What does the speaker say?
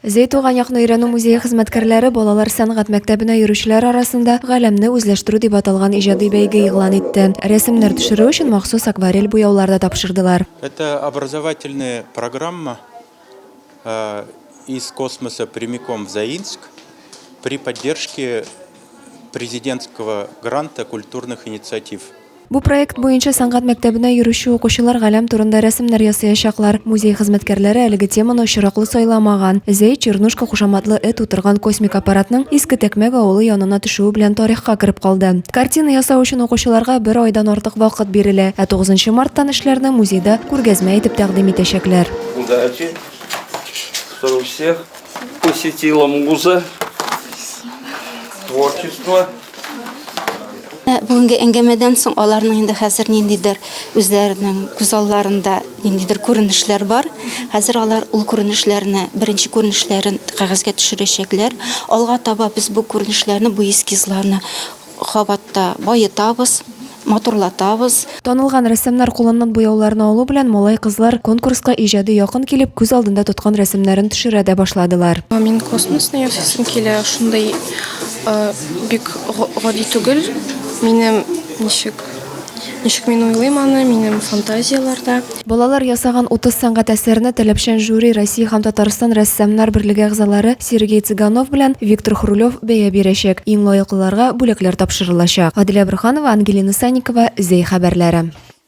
Зәй туган якны өйрәнү музее хезмәткәрләре балалар сәнгать мәктәбенә йөрүчеләр арасында Галәмне үзләштерү дип аталган иҗади бәйге игълан итте. Рәсемнәр төшерү өчен махсус акварель буяулар да тапшырдылар. Это образовательная программа из космоса прямиком в Заинск при поддержке президентского гранта культурных инициатив. Бу проект буенча сәнгать мәктәбенә йөрүче укучылар галәм турында рәсемнәр ясаячаклар. Музей хезмәткәрләре әлеге теманы очраклы сайламаган. Зәй, Чернушка кушаматлы эт утырган космик аппаратның Иске Тәкмәк авылы янына төшүе белән тарихка кереп калды. Картина ясау өчен укучыларга бер айдан артык вакыт бирелә, ә 9 марттан эшләрне музейда күргәзмә итеп тәкъдим итәчәкләр. Удачи, чтобы всех посетила муза, творчество. Ә бүгенге әңгәмәдән соң аларның инде хәзер ниндидер үзләренең күз алларында ниндидер күренешләр бар. Хәзер алар ул күренешләрне, беренче күренешләрен кәгазьгә төшерәчәкләр. Алга таба без бу күренешләрне, бу эскизларны кабатта баетабыз. матурлатабыз. Танылган рәссамнар кулыннан буяуларны алу белән малай-кызлар конкурска иҗади якын килеп, күз алдында тоткан рәсемнәрен төшерә дә башладылар. Мин космосны ясыйсым килә, шундый бик гади түгел, минем ничек, ничек мин уйлыйм аны, минем фантазияләрдә. Балалар ясаган 30 сәнгать әсәрне таләпчән жюри Россия һәм Татарстан рәссамнар берлеге әгъзалары Сергей Цыганов белән Виктор Хрулев бәя бирәчәк, иң лаеклыларга бүләкләр тапшырылачак. Гадилә Борһанова, Ангелина Санникова, Зәй хәбәрләре.